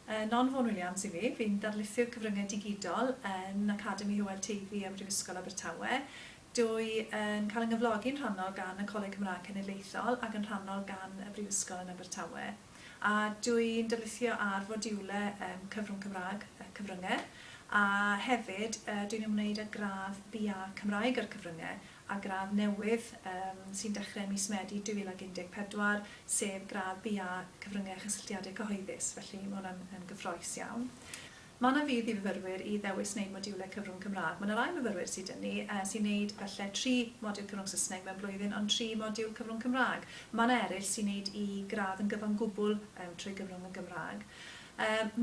Yn Hon Vaughan Williams i fi. Fi'n ddarlithydd cyfryngau digidol yn Academi Hywel Teifi ym Mhrifysgol Abertawe. Dwy yn cael yn nghyflogi'n rhannol gan y Coleg Cymraeg Cenedlaethol ac yn rhannol gan y Brifysgol yn Abertawe. A dwi'n darlithio ar fodiwle ym Cyfrwng Cymraeg y Cyfryngau a hefyd dwi'n ymwneud â gradd BA Cymraeg a'r Cyfryngau a gradd newydd sy'n dechrau ym mis Medi 2014, sef gradd BA Cyfryngau a Chysylltiadau Cyhoeddus, felly mae hwnna'n yn gyffrous iawn. Mae yna fudd i fyfyrwyr i ddewis wneud modiwlau cyfrwng Cymraeg. Mae yna rai myfyrwyr sydd 'da ni sy'n wneud falle tri modiwl cyfrwng Saesneg mewn blwyddyn ond tri modiwl cyfrwng Cymraeg. Mae yna eraill sy'n wneud eu gradd yn gyfan gwbl trwy gyfrwng yn Gymraeg.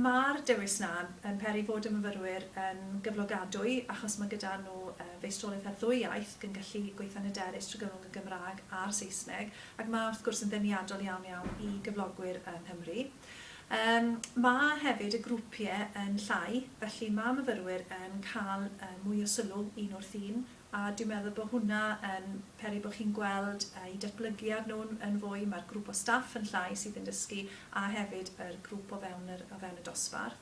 Mae'r dewis 'na yn peri fod y myfyrwyr yn gyflogadwy achos mae gyda nhw feistrolaeth ar ddwy iaith ac yn gallu gweithio'n hyderus trwy gyfrwng y Gymraeg a'r Saesneg ac mae wrth gwrs yn ddeniadol iawn iawn i gyflogwyr yng Nghymru. Mae hefyd y grwpiau yn llai felly mae myfyrwyr yn cael mwy o sylw un wrth un A dwi'n meddwl bod hwnna yn peri bod chi'n gweld eu datblygiad nhw yn fwy, mae'r grŵp o staff yn llai sydd yn dysgu a hefyd yr grŵp o fewn yr o fewn y dosbarth.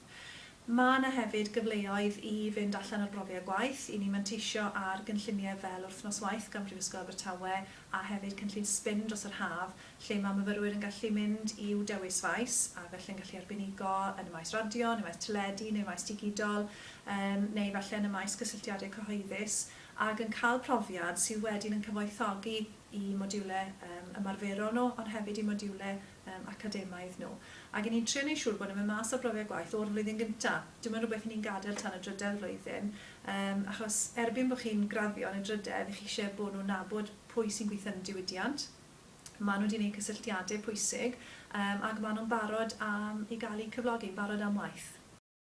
Mae 'na hefyd gyfleoedd i fynd allan ar brofiad gwaith, i ni manteisio ar gynlluniau fel Wythnos Waith gan Brifysgol Abertawe a hefyd cynllun sbin dros yr haf lle mae myfyrwyr yn gallu mynd i'w dewis faes a felly yn gallu arbenigo yn y maes radio, yn y maes teledu neu'r maes digidol yym neu falle yn y maes cysylltiadau cyhoeddus ac yn cael profiad sydd wedyn yn cyfoethogi i modiwlau yym ymarferol nhw ond hefyd i modiwlau yym academaidd nhw. Ac 'yn ni'n trio neud siŵr bod nhw'n mynd mas â brofiad gwaith o'r flwyddyn gynta'. Dyw e'm yn rhywbeth 'yn ni'n gadael tan y drydedd flwyddyn, yym achos erbyn bo' chi'n graddio yn y drydedd, 'ych chi isie bo' nhw'n nabod pwy sy'n gwitho yn y diwydiant, ma' nhw 'di neud cysylltiade pwysig, yym ac ma' nhw'n barod am i ga'l eu cyflogi, yn barod am waith.